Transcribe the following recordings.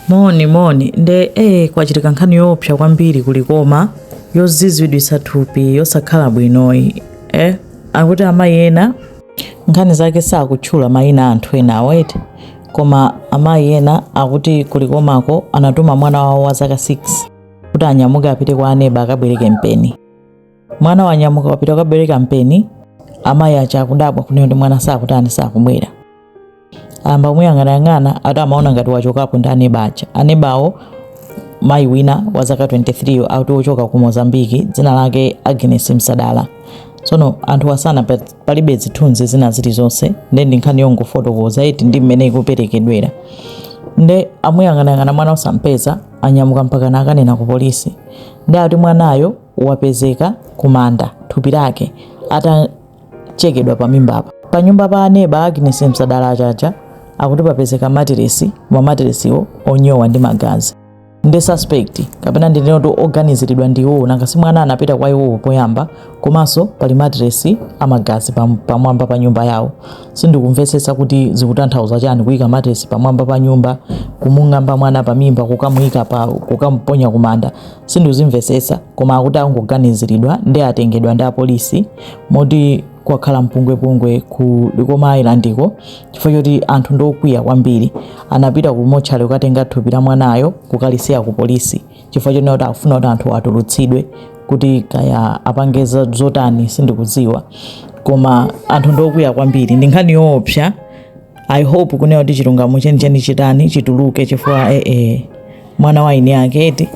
Moni moni nde ee eh, kwachitika nkhani yoopsa kwambiri ku Likoma yoziziritsa thupi yosakhala bwinoyi eh akuti amayi ena nkhani zake sakutchula mayina anthu ena awete koma amayi ena akuti ku Likomako anatuma mwana wawo wa zaka 6 kuti anyamuke apite kwa aneba akabwereke mpeni mwana wanyamuka wapita kukabwereka mpeni amayi aja akudabwa kunena kuti mwana sakutani sakubwera ayamba kumuyang'anayang'ana ati amaona ngati wachokapo ndi aneba aja anebawo mayi wina wa zaka 23 yo akuti wochoka ku mozambiki dzina lake Agnes Msadala tsono anthu asana pa- palibe zithunzi zina zilizonse nde ndi nkhani yongofotokoza iti ndi mmene ikuperekedwera nde amuyang'anayang'ana mwana osampeza anyamuka mpaka nakanena ku polisi nde ati mwanayo wapezeka kumanda thupi lake atachekedwa pamimbapa. Pa nyumba pa aneba Agnes Msadala ajawa akuti papezeka matiresi matiresiwo onyowa ndi magazi ndi suspect kapena ndi ndinene kuti oganiziridwa ndi iwowo nanga si mwana anapita kwa iwowo poyamba komanso pali matiresi amagazi pamwamba pa nyumba yawo sindikumvetsetsa kuti zikutanthauza chani kuyika matiresi pamwamba pa nyumba kumung'amba mwana pamimba kukamuyika pa kukamuponya kumanda sindikuzimvetsetsa koma akuti akungoganiziridwa ndi atengedwa ndi apolisi moti kwakhala mpungwepungwe ku Likoma Islandiko chifukwa choti anthu ndi okwiya kwambiri anapita ku motchale kukatenga thupi la mwanayo kukalisiya ku polisi chifukwa chonena kuti akufuna kuti anthu atulutsidwe kuti kaya apange za- zotani sindikudziwa koma anthu ndi okwiya kwambiri ndi nkhani yoopsa i hope kunena kuti chilungamo chenicheni chitani chituluke chifukwa ee eh, eh, mwana wa eni ake eti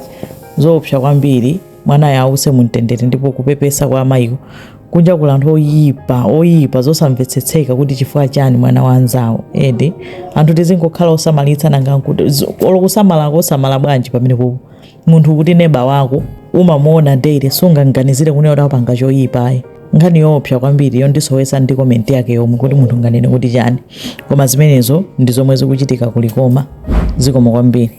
zoopsa kwambiri mwanayo awuse mumtendere ndipo kupepesa kwa amayiwo kunja kuli anthu oyipa oyipa zosamvetsetseka kuti chifukwa chani mwana wa anzawo eti anthu tizingokhala osamalitsa nanga olo kusamala kosamala bwanji pamene kuku munthu kuti neba wako umamuona daily sungamganizire kunena kuti apanga choyipa ayi nkhani yoopsa kwambiri yondisowesa ndi komenti yake yomwe kuti munthu nganene kuti chani koma zimenezo ndi zomwe zikuchitika ku Likoma zikomo kwambiri